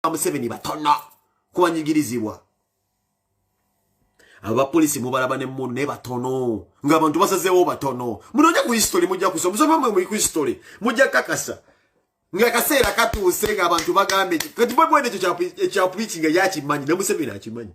ba museveni batono kubanyigirizibwa abapolisi mubalaba ne munu naye batono ngaabantu basazeewo batono munoonye ku history mujja kusa musomamwe muli ku history mujja kakasa ngaakaseera katuuse ngaabantu bagambe kati bwebwene ekyo ekyapuikinga yakimanyi ne museveni akimanyi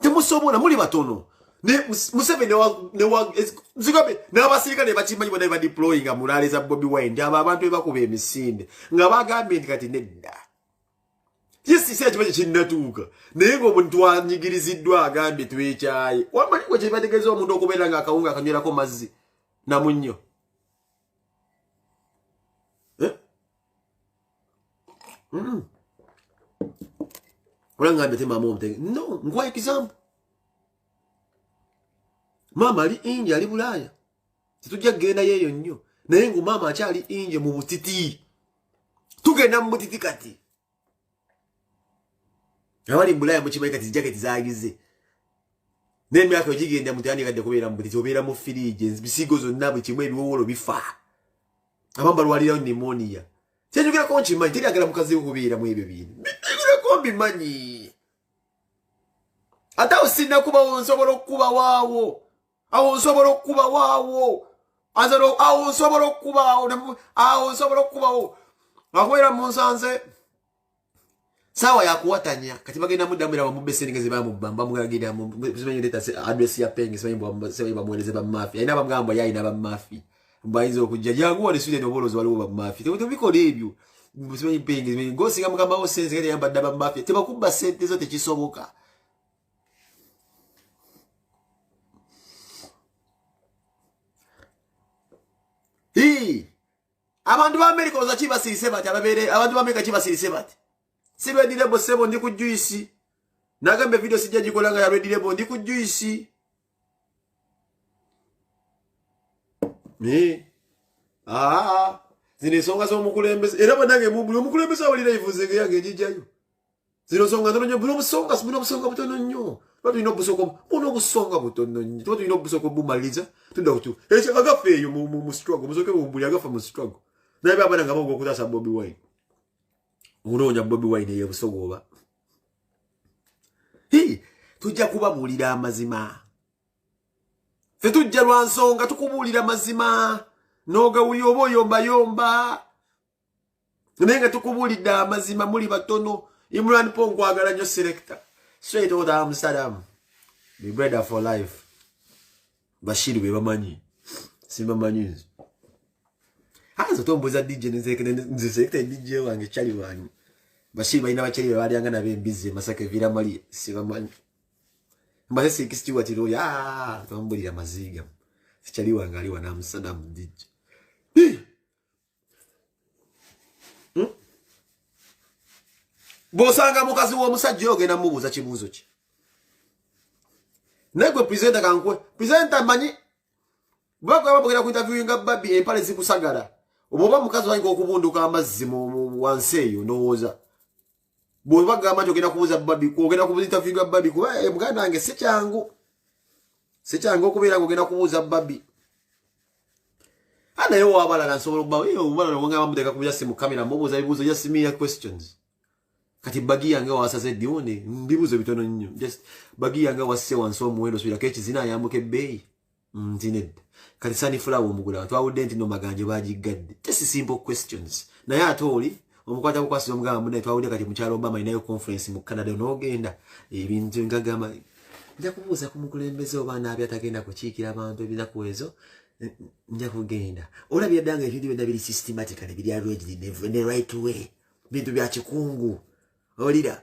temusobola muli batono museveni zigambe n'abasirikale bakimanyi bona badeployinga mulaale za bobi wine nti abo abantu bebakuba emisinde nga bagambye nti kati nedda yesisi akiba kye kinnatuuka naye ngaomuntu anyigiriziddwa agambye twekyaye wamaliwo kyebategeeza omuntu okubeera nga akawunga akanywerako mazzi namunnyo Mm. olangambye te maama omutenge no nkuwa example maama ali inji ali bulaaya tetujja kugenda yeeyo nnyo naye ngu maama akyali inje mu butiti tugenda mu butiti kati abali mubulaaya mukimanyi kati zijaketi zagize naye emyaka ogigenda mutandikadde kubeera mu butiti obeera mu firiiji ebisigo zonna buli kimu ebiwowolo bifaa abamu balwalirayo nimoniya kyenjogerako nkimanyi teri agala mukazi we kubeera mu ebyo bintu byogerako mbimanyi ate awo sinakubawo nsobola okukubawaawo awo nsobola okukubawaawo awo nsobola okukubaawo awo nsobola okukubawo akubeera munsanze sawa yakuwatanya kati bagenda mudamu era bamubbe sente nga zebamubba bamugagirira simanyi leeta adresi ya penge simanyi simanyi bamuwereze bamafi alina bamugamba ye alina bamafi bayinza okujja janguwa ne sweden obolozi waliwo bamafi tebikola ebyo simanyi penge simanyi gosinga mugambawo sense kati yamba dda bamafi tebakubba sente zo tekisoboka Hii. abantu ba america oza kibasirise bati ababere abantu ba america kibasirise bati si ready label sebo ndi ku juice nagambe video sijja jikola nga ya ready label ndi ku juice me ah zine songa zo mukulembeza era banange mu mukulembeza wali live zege yange jijayo zino nsonga ntono nnyo buno obusonga buno obusonga butono nnyo tuba tulina obusoko buno obusonga butono nnyo tuba tulina obusoko bumaliriza tudda kutu ekyo agafa eyo mu struggle musoke bumbuli agafa mu struggle naye baabana nga baoga okutaasa bobi wine okunoonya bobi wine eyo ebusoga oba tujja kubabuulira amazima fe tujja lwa nsonga tukubuulira mazima n'ogawulira oba oyombayomba naye nga tukubuulidde amazima muli batono imran po nkwagala nyo selecta straight out amsterdam be brother for life bashiri bebamanyi sibamanyi nze azo tombuza dj nze selecta dj wange chali wange bashiri balina bachali bebalyanga nabo embizzi emasaka evira mali sibamanyi mbaze sikistiwatiro ya ah, tombulira maziga sichali wange ali wana amsterdam dj hmm? bwosanga mukazi w'omusajja oyo ogenda mubuuza kibuuzo kye naye gwe presenta kankwe presenta manyi bwegaba bugenda kuintaviewinga babi empale zikusagala oba oba mukazi wayinga okubunduka amazzi wansi eyo ndowooza bwoba gamba nti ogenda kubuza babi ogenda kubuza interview ga babi kuba eh, muganda wange si kyangu si kyangu okubeera nga ogenda kubuuza babi anaye wabalala nsobola okubaobalala eh, wonga bamuteeka ku byasimu kamera mubuuza bibuuzo just mere questions kati bagi yange wasaze dione mbibuuzo bitono nnyo just bagi yange wasse wansi omuwendo subirako ekizina ayambuka ebbeeyi nti nedda kati sanifulawo omugulawo twawudde nti no maganjo bagiggadde just simple questions naye ate oli omukwata kukwasi omugamba munaye twawudde kati mukyalo obama alinayo conference mu canada onogenda ebintu ngagamba nja kubuuza ku mukulembeze oba naabi atagenda kukiikira abantu ebinaku ezo nja kugenda ola byaddanga ebintu byonna biri systematically biri arranged ne right way bintu bya kikungu olira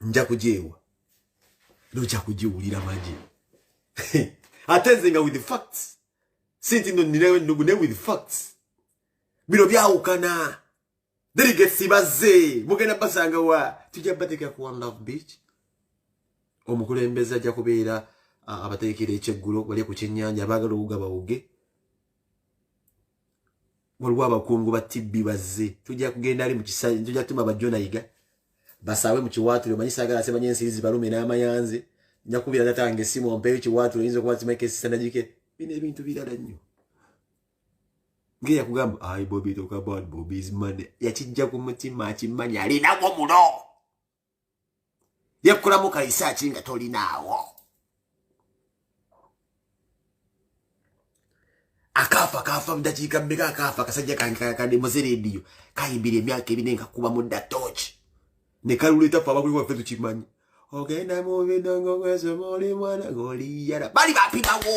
nja kujeewa noja kujiwulira maji ate nze nga with the facts sinti no ninayo ennugu naye with facts bino byawukana delegates bazze mugenda basanga wa tujja bateekera ku one love beach omukulembeze ajja kubeera abateekera ekyeggulo wali ku kyennyanja abaagala okugabawuge waliwo abakungu ba tibbi bazze tujja kugenda ali mukisajja tujja kutuma bajonayiga basaawe mu kiwaatule omanyi saagala asemanya ensiri zibalume n'amayanze nja kubira tata nge simu ompeeyo kiwaatule oyinza okuba simeka esisanagike bino ebintu birala nnyo ngeya kugamba ai bobi talk about bobi's money yakijja ku mutima akimanyi alinamu muno yakulamu kayisa ki nga tolinaawo akaafa kaafa mudakiika mmeka akaafa akasajja kankakade muzerediyo kayimbira emyaka ebine nga kuba mudda tooki ne kaluleeta fe abakuli waffe tukimanyi ogenda mu bidongo kwesomaoli mwana goliyala bali bapimawo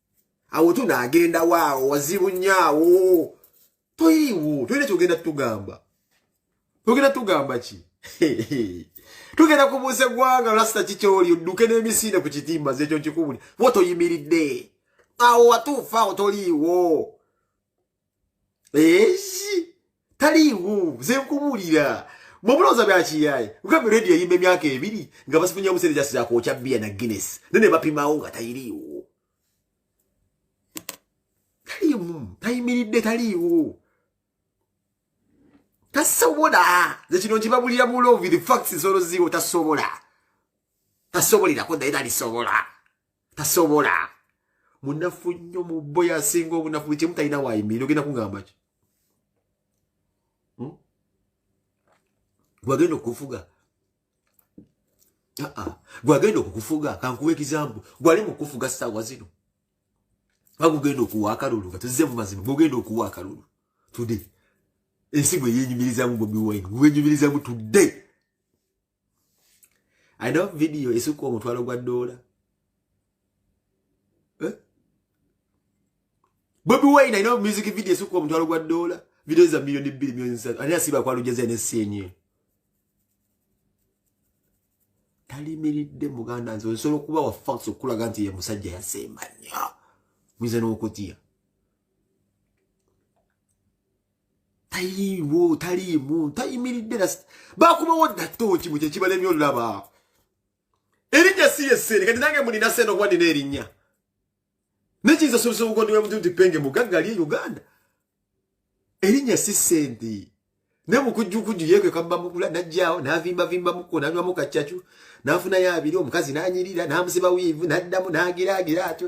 awo tuna agenda waawo wazibu nyaawo toyiwo toyina kyogenda tugamba togenda tugamba ki tugenda kubuusa eggwanga lasita kikyoli odduke n'emisinde ku kitimba zekyo nkikubuli wo toyimiridde awo watuufa awo toliiwo eki taliiwo nze nkubuulira mubulooza byakiyaye ngambe radio eyimba emyaka ebiri nga basifunya obuseere jasi zakwokya biya na guinness ne ne bapimawo nga tayiriiwo taliimu tayimiridde taliiwo tasobola ze kino nkibabulira mu love the facts zolo ziwo tasobola tasobolirako naye talisobola tasobola munafu nnyo mubbo yasinga obunafu buli kimu talina wayimirira ogenda kugamba ki hmm? gwagenda okufuga gwagenda okukufuga kankuwa ekizambu gwali mukufuga saawa zino bagugenda okuwa akalulu nga tuzze mu mazima gwogenda okuwa akalulu tude ensi gwe yenyumirizamu bobi wine gwenyumirizamu tude alina vidiyo esukka omutwalo gwa doola eh? bobi wine alina music vidiyo esukka omutwalo gwa doola vidiyo za miliyoni bbiri miliyoni zisatu ani asiba kwalujeza enesi enye talimiridde muganda nze osobola okuba wa fax okukulaga nti ye musajja yasemba nnyo muyinza n'okutya taliiwo taliimu tayimiridde bakubawo nato kimu kyekibalemye olulaba erinnya si yesseere kati nange mulina sente okuba nina erinnya nekiyinza osobesa obugondi bwemutu nti penge mugagga lye uganda erinnya si sente ne mukujjukujju yeekwe kabbamukula najjaawo n'avimbavimbamukko nanywamu kaccacu n'afunayo abiri omukazi n'anyirira n'amusiba wiivu n'addamu n'agiraagira atyo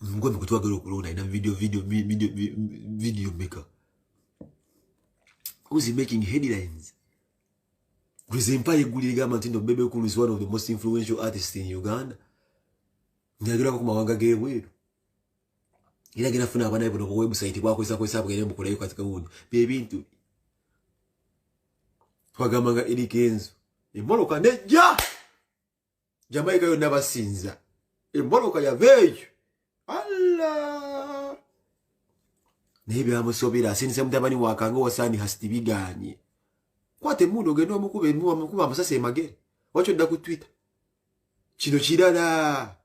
mungwe mukutwagala okulonda ina video video video video maker who's making headlines gwesempa egulire gamba nti no bebe cool is one of the most influential artists in uganda nyagerako ku mawanga g'ebweru era genda funa abanaye buno ku website bwakozesa kozesa bugende mukolayo kati kawundi byebintu twagamba nga erikenzo emoloka nejja jamaica yonna basinza emboloka yava eyo alla naye byamusobera asindisa mutabani wakanga owasaani hasiti biganye kwata emundu ogenda omukuba emukuba amasasi emagere wakyo dda ku twitter kino kirala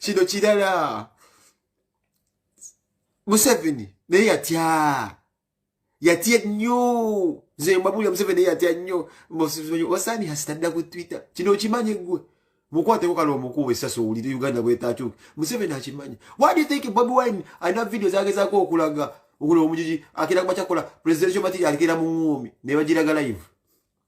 kino kirala museveni naye yatya yatya nnyo nze mbabulira museveni yatya nnyo osaani hasitadda ku twitter kino okimanyi gwe mukwateko kale omukuba esasi owulire uganda bwetakyuka museveni akimanyi why do you think bobi wine alina vidiyo zagezako okulaga okula omujiji akira kuba kyakola presidential material alikira mu ngumi nebagiraga live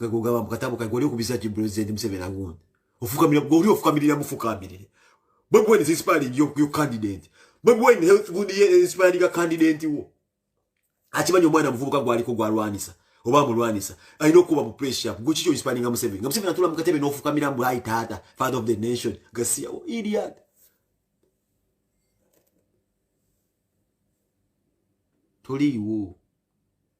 nga gogamba mu katabo kagoli okubiza ki president Museveni agundi ofukamira goli ofukamirira mufukamirire Bobi Wine is inspiring your, your candidate Bobi Wine health good year is inspiring a candidate wo akimanyi omwana muvubuka gwaliko gwalwanisa oba mulwanisa alina okuba mu pressure guki kyo inspiring nga Museveni nga Museveni atula mu katebe n'ofukamira mbu ayi taata father of the nation gasiya wo idiot toliiwo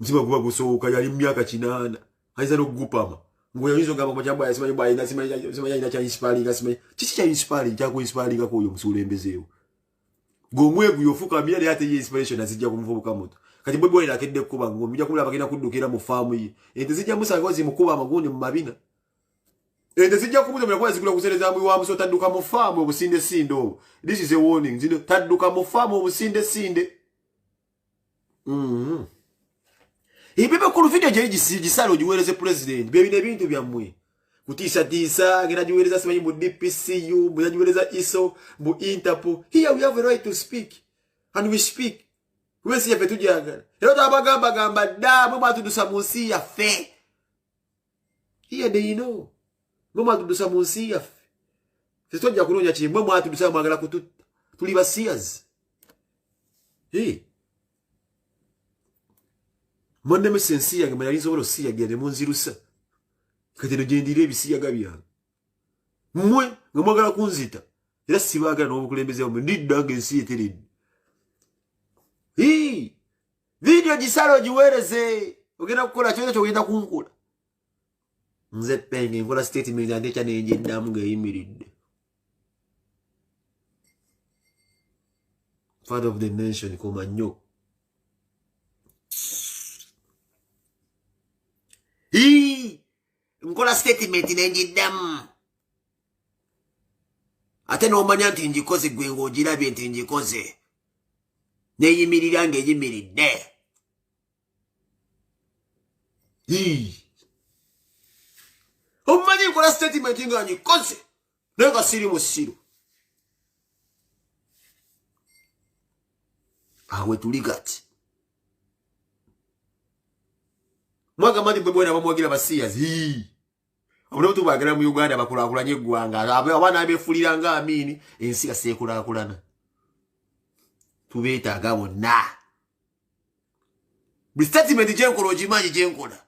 mutima guba gusooka yali mumyaka kinaana ayinza nokugupama ngoyinza ogamba makyamba yasimanyi bwayina simanyi ayina kyainsipalinga simanyi kiki kyainsipaling kyakuinsipalingaku oyo musuulembezeewo gomweguyo ofukamira naye ate ye inspiration azijja kumuvubuka muto kati bwe bwayina akedde kukuba ngo mujja kumula bagenda kuddukira mu faamu ye ente zijja musangawo zimukuba amagundi mu mabina ente zijja kumutomera kuba zigula kusereza mbuyi wa muso tadduka mu faamu obusinde sinde obwo this is a warning zino tadduka mu faamu obusinde sinde mm-hmm. ebebe ku luvidiyo gyeri gisala ogiweereze pulezidenti byebino ebintu byammwe kutiisatiisa ngena giweereza simanyi mu dpcu munagiweereza iso mu interpol here we have a right to speak and we speak wensi yaffe tujagala era twabagambagamba dda mwe mwatudusa mu nsi yaffe iye deino mwe mwatudusa mu nsi yaffe ffe tojja kunoonya kiri mwe mwatudusa mwagala kututta tuli basiyazi mwannemesa ensi yange mwe yali nsobola osiyagira ne munzirusa kati no gyendira ebisiyaga byange mmwe nga mwagala kunzita era sibaagala n'obukulembeze bwamwe ndidda nga ensi eteredde vidiyo gisala ogiweereze ogenda kukola kyona kyogenda kunkola nze penge enkola sitatimenti ate ekya nengyeddamu ng'eyimiridde father of the nation koma nnyo ii nkola statement nenjiddamu ate n'omanya nti ngikoze gwe ng'ogirabye nti ngikoze neyimirira ng'eyimiridde omumanyi nkola statement nga ngikoze naye nga siri musiru awe tuli gati mwagamba nti bwe bwena bamwagira basiyazi omuntu bagala mu Uganda bakulakulanye eggwanga abaana abefulira nga amiini ensi yaseekulakulana tubeetaaga bonna buli statement gyenkola ogimanyi gyenkola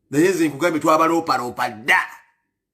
naye nze nkugambye twabaloopaloopa dda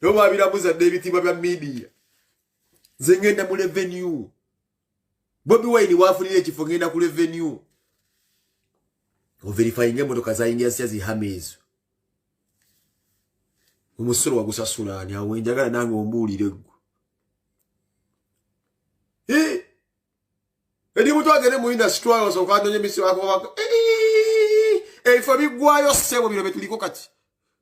nabo babirabuza dda ebitiibwa bya midiya nze ngenda mu revenue bobi wine wafunira ekifo ngenda ku revenue overifyinga emotoka zayingira sitya zihama ezo omusolo wagusasula ani awo enjagala nange ombuulire gwe eri mutu agende mu industry osooka anonye misiwako ebifo biggwayo ssebo bino bye tuliko kati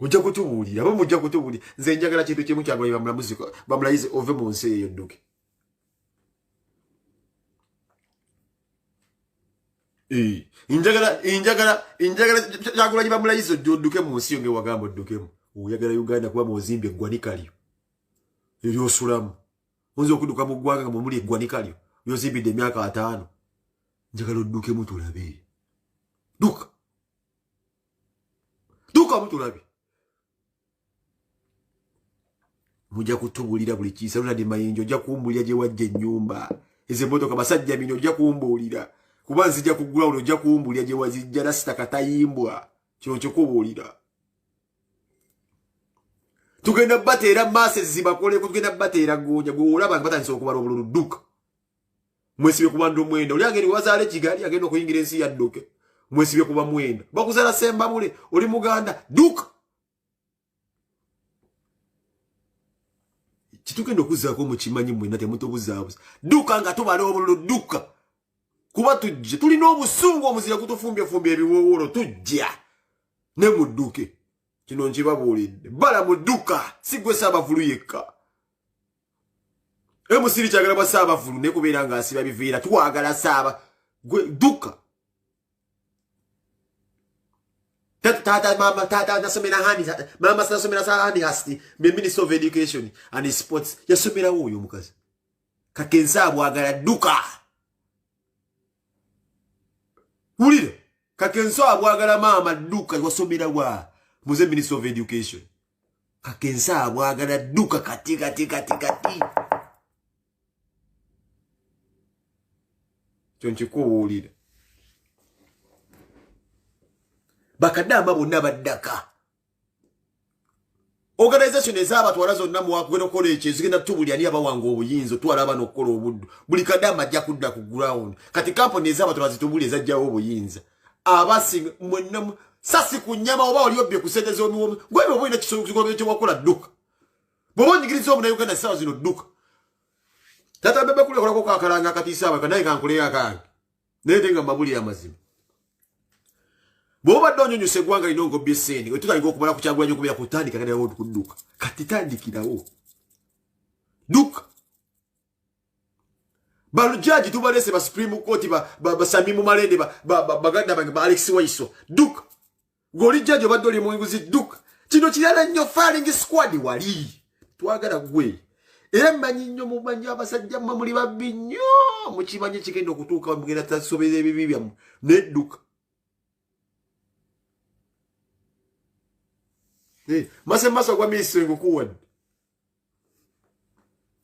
mujja kutubuulira aba mujja kutubuulira nze njagala kintu kimu kyagulanyi bamulamuzi bamulayize ove mu nsi eyo dduke njagala njagala njagala kyagulanyi bamulayize odduke mu nsi yo ngewagamba oddukemu oyagala uganda kuba muzimba eggwanika lyo eryosulamu oyinza okuduka mu ggwanga nga mwemuli eggwanika lyo lyozimbidde emyaka ataano njagala oddukemu tulabe duka dukamu tulabi muja kutubulira buli kisa lunadi mayinja ojja kumbulira gye wajja ennyumba ezo emmotoka basajja mini ojja kumbuulira kuba nzija ku ground ojja kumbulira gye wazijja nasita katayimbwa kino nkikubuulira tugenda bateera maase zibakoleko tugenda bateera goonya gweolaba nti batandisa okubala obululu dduka mwesibye kubantu omwenda oli agenda wazaala ekigali agenda okuyingira ensi yadduke mwesibye kuba mwenda bakuzala sembabule oli muganda duka kitugenda okuzaako mukimanyi mwena temutubuzabuza duka nga tubala obululu duka kuba tujje tulina obusungu omuzira gutufumbyefumbye ebiwowolo tujja ne mudduke kino nkibabuulidde bala mudduka sigwesa abavulu yekka emusiri kyagala bwa saabavulu ne kubeera nga asiba biviira twagala saaba gwe dduka taata mama taata nasomera hani mama sinasomera sa hani hasti be minister of education and sports yasomerawo oyo omukazi kakensa abwagala dduka wulira kakensa abwagala maama dduka wasomerawa muze minister of education kakensa abwagala duka kati kati kati kati kyonkikuwulira bakadamba bonna baddaka organization ezabatwala zonna muwakugenda okukola ekyo ezigenda tubuli ani abawanga obuyinza otwala abana okukola obuddu buli kadamba ajja kudda ku ground kati kampuni ezabatwala zitubuli ezajjawo obuyinza abasinga mwenna sasi ku nyama oba oli obbye ku sente z'omiwomi gwebyo oba olina kisobola kyewakola dduka bwoba onyigiriza omunauganda essaawa zino dduka tata bebe kulekolako kakalanga akatiisa abaka naye kankuleyo akange naye te nga mabuli amazima bwobadde onyonyusa eggwanga lino ngobby sente wetutandika okumala kukyagulanya okubera kutandika kanawo kudduka kati tandikirawo dduka balujaji tubalese ba supreme court basami mu malende baganda bange ba alex waiso duk goli jaji obadde oli munguzi duk kino kirala nnyo faling squad wali twagala gwe era mmanyi nnyo mumanyi abasajja mmwe muli babbi nnyo mukimanyi kigenda okutuuka mugenda tasobera ebibi byammwe nedduka eh, mase maso gwa minisitiri ngukuwadde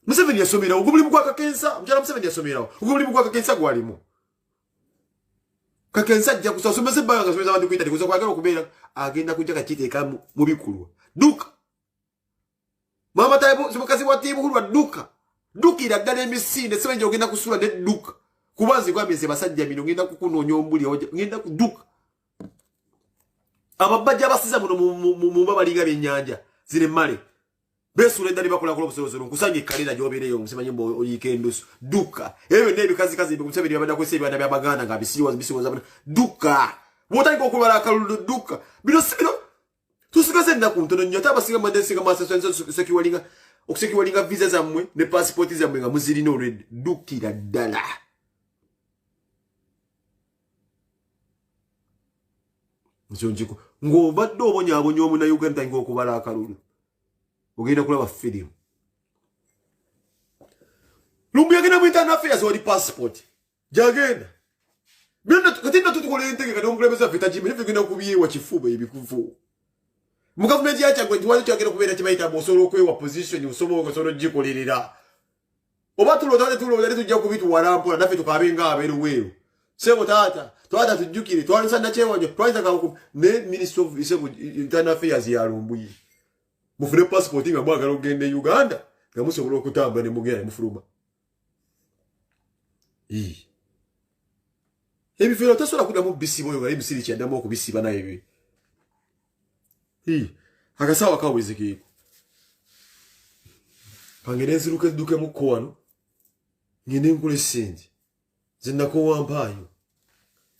museveni yasomerawo ogwo mulimu gwa kakensa omukyala museveni yasomerawo ogwo mulimu gwa kakensa gwalimu kakensa ajja kusa osomesa ebbanga ngasomesa abantu kuintaneti kusa kwagala okubeera agenda kujja kakiteeka mu bikulwa duka mama tamukazi wa tibuhulwa duka dukira ddala emisinde sebenja ogenda kusula ne duka kuba nze gwambye nze basajja mino ngenda kukunoonya ombuli ngenda kuduka ababajja abasiza muno muba balinga byenyanja ziri male besuula eddali bakulakola obusolosolo nkusanga ekkalera gyobeereyo nkusimanyi mbu oyiika endusu dukka ebyo byonna ebikazikazi museveni byabadde akozesa ebiwana bya baganda nga bisiwoza bisiwoza dukka bwotandika okubala akalulu dukka bino si bino tusigaze ennaku ntono nnyo ate abasinga mubadde nsinga masosekiwalinga okusekiwalinga visa zammwe ne pasipooti zammwe nga muzirina olwedde ddukira ddala nkyonkiku ng'obadde obonyabonya omunauganda tayinga okubala akalulu ogenda kulaba firimu lumbu yagenda mu internal affairs wali pasipooti jagenda byonna kati nna tutukola entegeka n'omukulembeze waffe tagimanyi tugenda kubyewa kifuba ebikuvu mu gavumenti yakyagwe nti wali kyagenda okubeera kibayita mbu osobola okwewa position osobola osobola okugikolerera oba tulota netulota netujja kubituwala mpola naffe tukabe nga aberuweeru sebo taata twata tujjukire twalisa nakyewanjo twalisa kakuku ne ministry of sebo internal affairs ya lumbuye mufune passport nga mwagala okugenda e uganda nga musobola okutambula ne mugenda ne mufuluma ebifero tasobola kudamu bisiba oyo ngaye misiri kyadamu okubisiba naye bi akasawa kawezekeko kange nenziruka eddukemu ko wano ngende nkula esente zinakowampaayo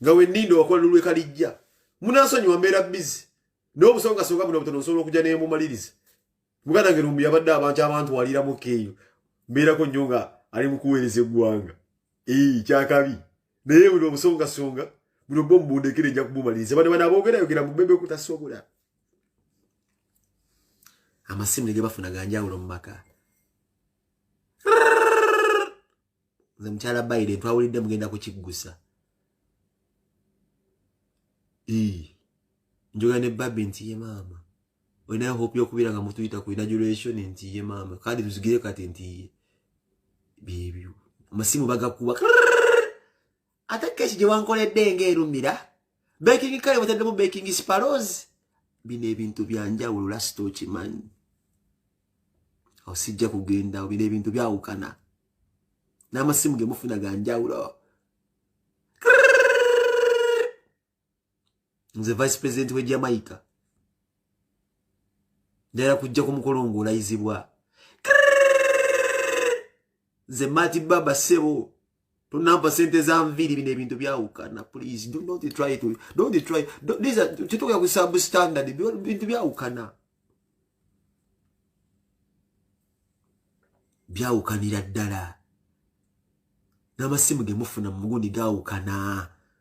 nga wenninda owakola nolwekalijja munansonyiwa mbeera bizi naye obusonga songa buno butono nsobola okuja nemumaliriza muganda wange lumbi yabadde abantu abantu waliramu keeyo mbeerako nnyo nga ali mu kuweereza eggwanga ee kyakabi naye buli obusongasonga buli obwo mubundekere nja kumumaliriza bane bana abogerayogera mubebe kutasobola amasimu ne ge bafuna ganjawulo mu maka nze mukyala biden twawulidde mugenda kukiggusa njoga ne babi nti ye maama olinayo hope yokubira nga mutuyita ku inaguration nti ye maama kandi tuzigire kati nti ye byebyo amasimu bagakuba ate keki gye wankoledde nga erumira baking kale wataddemu baking sparos bino ebintu byanjawulo lasita okimanyi osijja kugenda bino ebintu byawukana n'amasimu ge mufuna ganjawulo nze vice president we jamaica ndala kujja ku mukolo ng'olayizibwa nze mati baba sebo tonampa sente za nviiri bino ebintu byawukana please do not try to don't try tetugera ku substandard bintu byawukana byawukanira ddala n'amasimu gemufuna mu mugundi gawukana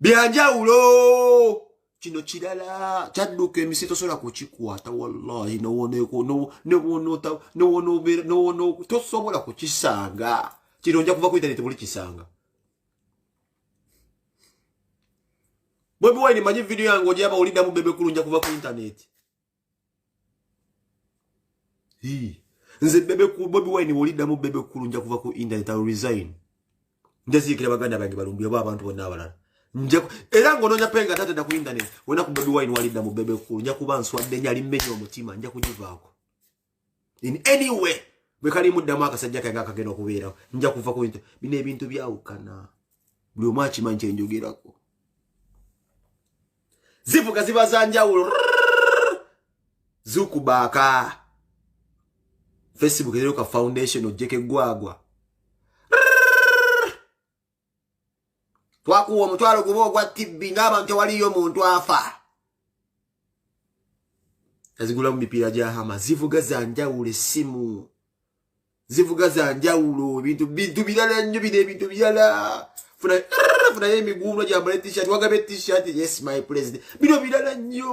byanjawulo kino kirala kyadduka emisi tosobola kukikwata wallahi tosobola kukisanga kino nja kuva ku intaneti buli kisanga bwebiwaini manyi vidiyo yange ojaba oliddamu bebekulu nja kuva ku intaneti nze bebe ku bobi wine wolidamu bebe kulu nja kuva ku internet i resign nja zikira baganda bange balumbi abo abantu bonna abalala nja era ngo nonya penga tate da ku internet wena ku bobi wine wolidamu bebe kulu nja kuba nswadde nyali menyo omutima nja kujivaako in any way bwe kali muddamu akasajja kange akagenda okubeerawo nja kuva ku bintu bino ebintu byawukana buli omu akimanyi kyenjogerako zivuga ziba za njawulo zukubaaka facebook eroka foundation ojjeko eggwagwa twakuwa omutwalo guba ogwa tibbi ng'abantu tewaliyo muntu afa azigulamu mipiira gya hama zivuga za njawulo essimu zivuga za njawulo ebintu bintu birala nnyo bino ebintu birala funayo emiguuno gyambala etishat wagaba etishat yes my president bino birala nnyo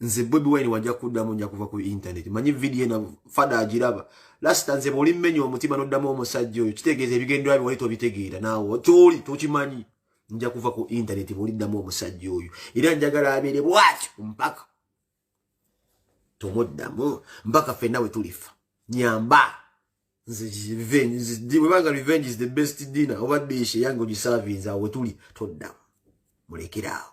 nze bobi wine wajja kuddamu nja kuva ku intaneti manyi vidiyo ena fada agiraba lasita nze bwoli mmenya omutima noddamu omusajja oyo kitegeeza ebigendera bye wali tobitegeera naawe kyoli tokimanyi nja kuva ku intaneti bwoliddamu omusajja oyo era njagala abeere bwati mpaka tomuddamu mpaka fenna we tulifa nyamba webanga revenge is the best dinner oba dish eyange ogisavinze awo wetuli toddamu mulekere awo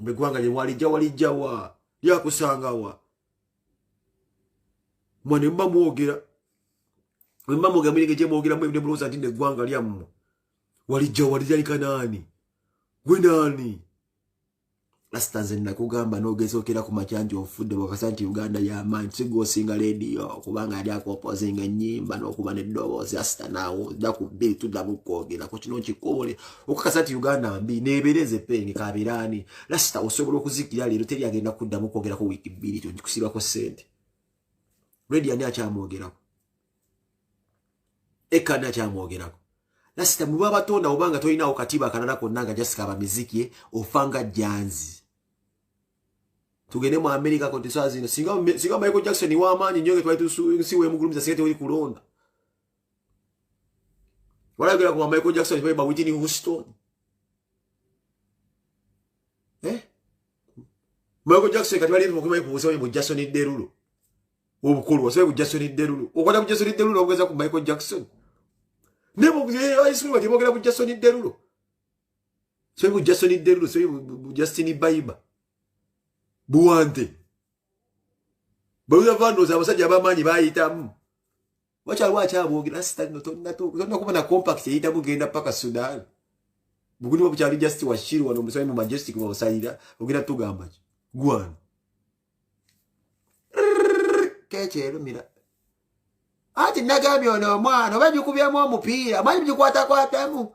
eggwanga lye walijja walijja wa lyakusanga wa mwe ne muba mwogera bwe muba mwogera mulinga gye mwogeramu ebine mulowooza nti neggwanga lyammwe walijja walijja likanaani gwe naani lasita nze nakugamba nogezokera ku macanji ofudde wakasa nti uganda yamaanyi sigwosinga lediyo kubanga yali akopozinga enyimba nokuba nedoboozi lasita nawo da ku bbiri tuddamu kwogera ku kino nkikubule okukasa nti uganda mbi nebereze penge kabirani lasita osobola okuzikira leero teri agenda kuddamu kwogerako wiiki bbiri kyo nkikusibako sente redi ani akyamwogerako ekanda kyamwogerako lasita muba batonda obanga tolinawo katiba akalala konna nga jasika abamizikie ofanga janzi tugende mu amerika koti saa zino singa michael jackson wamaanyi nyo ngetwalitusiwemugulumiza singa tewoli kulonda walagera kuma michael jackson baba witini houston eh? Michael Jackson kati bali mukuba ku busawe bu Jackson Derulo. Obukulu wasawe bu Jackson Derulo. Okwata ku Jackson Derulo ogeza ku Michael Jackson. Nebo ayiswe bati bogera ku Jackson Derulo. Sawe bu Jackson Derulo, sawe bu Justin Bieber. Buwante. Bawuza vano za basajja bamanyi bayitamu. wakyaliwo akyabogera sitano tonna kuba na compact eyita bugenda paka sudan buguli bwa bukyali just washiri wano omusaayi mu majestic wabusalira ogenda tugamba ki gwano kekyerumira anti nagambye ono omwana oba bikubyemu omupiira manyi bigikwatakwatamu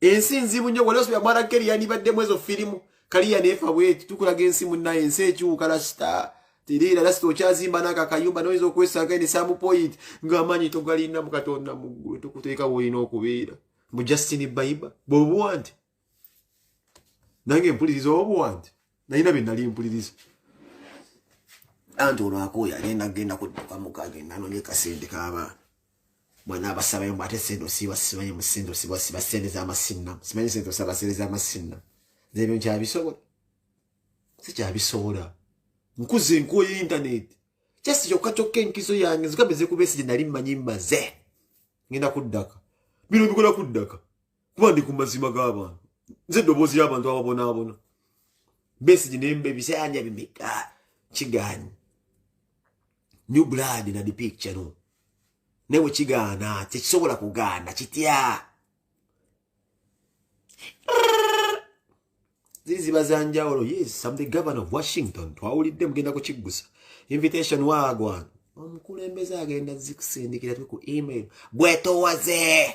ensi nzibu nnyo wali osubira mwana keri yandibaddemu ezo firimu kaliya neefa bweti tukulaga ensi munnaye ensi ekyuka lasita teriira lasita okyazimba naako akayumba noyinza okwesanga ene samu point ng'amaanyi togalina mu katonda muggulu tukuteeka woolina okubeera mu justini baiba bwebuwa nti nange mpuliriza obu wange nalina bye nali mpuliriza anti olwakuuya agenda kugenda kudduka muka agenda anonye kasente k'abaana mwana abasabayo mbu ate sente osiiba simanyi mu sente osiiba osiiba sente z'amasinna simanyi sente osaba sente z'amasinna nebyo nkyabisobola sikyabisobola nkuze nkuoyo intaneti just kyokka kyokka enkizo yange nzigambe zekubesigye nali mmanyi mmaze ngenda kuddaka bino bikola kuddaka kuba ndi ku mazima g'abantu nze eddoboozi y'abantu ababonaabona besigi nemba ebisanja bimeka kigaanyi new blood na the picture no newe kigaana tekisobola kugaana kitya ziri ziba za njawulo yes am the governor of washington twawulidde mugenda kukiggusa invitation waagwana omukulembeze agenda zikusindikira twe ku email bwetowaze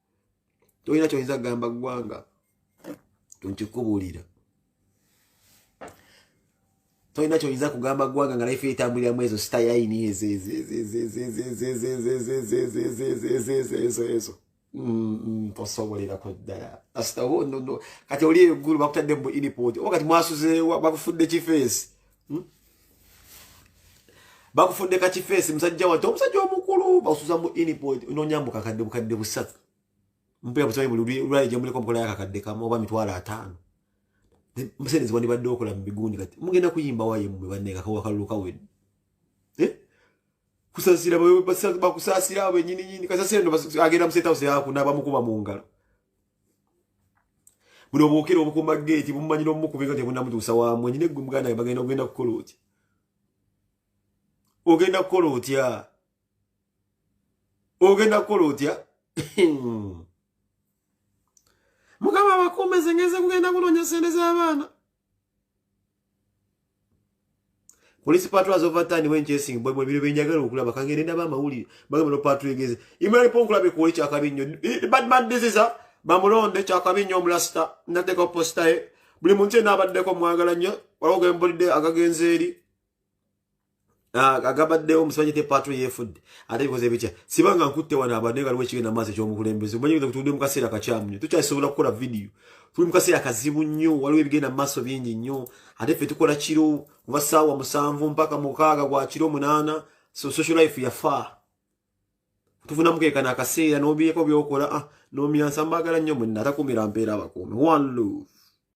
tolina kyoyinza kugamba ggwanga nkikubuulira tolina kyoyinza kugamba ggwanga nga laife etambulira mu ezo sitayayini ezo ezo tosoboleraku ddala kasita kati oli eggulu bakutadde mu inipoti oba kati mwasuzeewa bakufudde kifeesi hmm? bakufudde kakifeesi musajja wati omusajja omukulu basuza mu inipod nonyambu kakadde bukadde busatu mpera busabe buli lwali gyemuleko omukola yakakadde kamu oba mitwalo ataano musenezi wandibadde okola mu bigundi kati mugenda kuyimba waye mwe banneekakawakalulu kawedde eh? kusasira bakusasira benyininyini kasasira no agenda mu state house yakunaba mukuba mu ngalo buno bwokera obukuma geeti bumumanyira omukubinga tebunamutuusa wamwe nyina eggwe muganda bagenda ogenda kukola otya ogenda kukola otya ogenda kukola otya mukama abakuumeze ngenze kugenda kunoonya sente z'abaana police patrol has over time when chasing boy mwe biro benjagala okulaba kangere ndaba amawulire bagamba no patrol egeze imali ponkula be kuwe kya kabi nnyo eh, bad man this is a bamulonde kya kabi nnyo omulasta nateka posta ye buli muntu yena abaddeko mwagala nnyo waliwo gembulidde agagenze eri Ah, agabaddewo omusajja te patro yefudde ate bikoze bitya sibanga nkutte wano abantu naye galiwo ekigenda maaso ekyomukulembeze omanyi nze kutudde mu kaseera kakyamu nnyo tukyasobola kukola vidiyo tuli mu kaseera kazibu nnyo waliwo ebigenda mu maaso bingi nnyo ate ffe tukola kiro kuba saawa musanvu mpaka mukaaga gwa kiro munaana so social life yafa tufunamu kekana akaseera n'obiyeko byokola ah, nomyansa mbagala nnyo mwenna atakumira mpeera abakuumi one love